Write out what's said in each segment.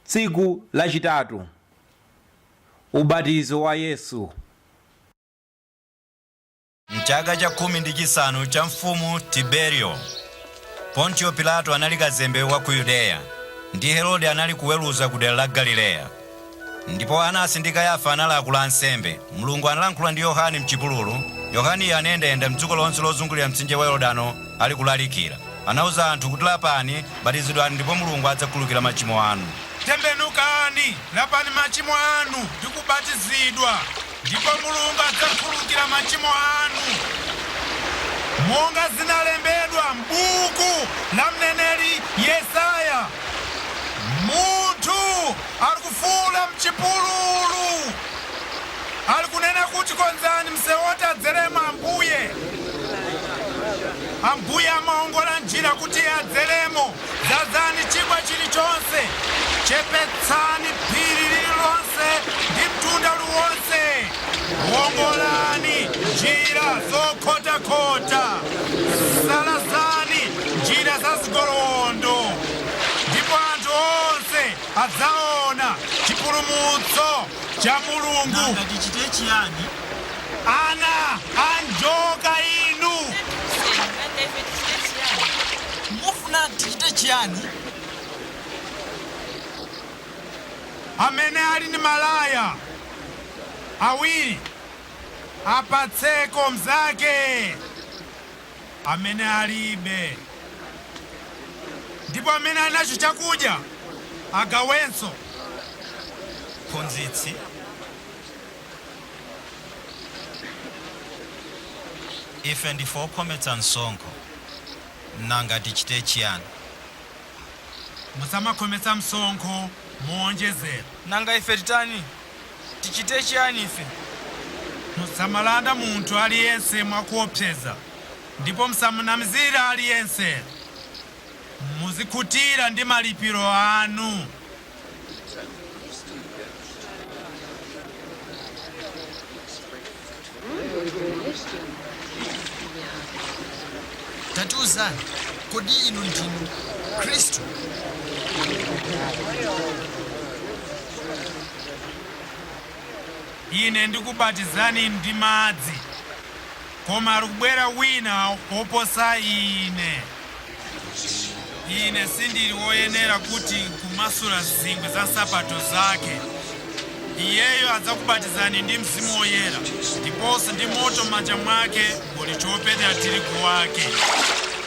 Tsiku Lachitatu, Ubatizo wa Yesu. M'chaka cha khumi ndi chisanu cha mfumu Tiberiyo, Pontiyo Pilato anali kazembe wa ku Yudeya, ndi Herode anali kuweruza ku dera la Galileya. Ndipo Anasi ndi Kayafa anali akulu ansembe. Mulungu analankhula ndi Yohane m'chipululu. Yohaneyo anayendayenda m'dziko lonse lozungulira mtsinje wa Yorodano ali kulalikira. Anauza anthu kuti, Lapani, batizidwani ndipo Mulungu adzakhululukira machimo anu. Tembenukani, lapani machimo anu ndi kubatizidwa. Ndipo Mulungu adzakhululukira machimo anu, monga zinalembedwa m'buku la mneneri Yesaya, Munthu ali kufuula m'chipululu, ali kunena kuti, Konzani msewu woti adzeremo Ambuye, Ambuye amaongola njira kuti adzeremo. Dzadzani chigwa chilichonse, chepetsani phiri lililonse ndi mtunda uliwonse. Wongolani njira zokhotakhota, salazani njira za zigolowondo. Ndipo anthu onse adzaona chipulumutso cha Mulungu. Nanga tichite chiyani? Ana a njoka inu! Mufunanji? Tichite chiyani? Amene ali ndi malaya awiri, apatseko mzake amene alibe, ndipo amene ali nacho chakudya agawenso. Mphunzitsi. Ife ndife okhometsa msonkho. Nanga tichite chiyani? Musamakhometsa msonkho mowonjezera. Nanga ife titani? Tichite chiyani ife? Musamalanda munthu aliyense mwa kuopseza, ndipo musamanamizira aliyense. Muzikhutira ndi malipiro anu. tatiuzani kodi inu ndinu khristu ine ndikubatizani ndi madzi Koma ali kubwera Wina woposa ine. Ine sindiri woyenera kuti nkumasula zingwe za nsapato Zake. Iyeyo adzakubatizani ndi Mzimu Woyera, ndiponso ndi moto. Mmanja Mwake muli chopetera tirigu Wake.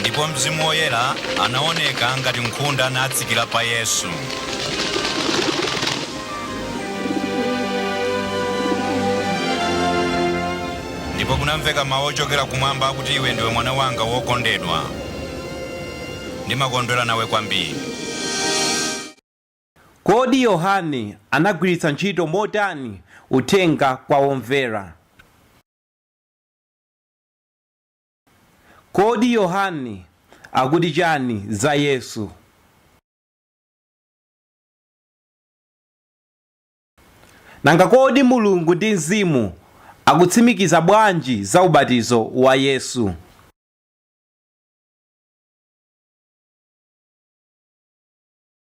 Ndipo Mzimu Woyera anaoneka ngati nkhunda natsikira pa Yesu. Ndipo kunamveka mau ochokera Kumwamba akuti, Iwe ndiwe Mwana wanga wokondedwa. Ndimakondwera nawe kwambiri. Kodi Yohane anagwiritsa ntchito motani uthenga kwa omvera? Kodi Yohane akuti chani za Yesu? Nanga kodi Mulungu ndi Mzimu akutsimikiza bwanji za ubatizo wa Yesu?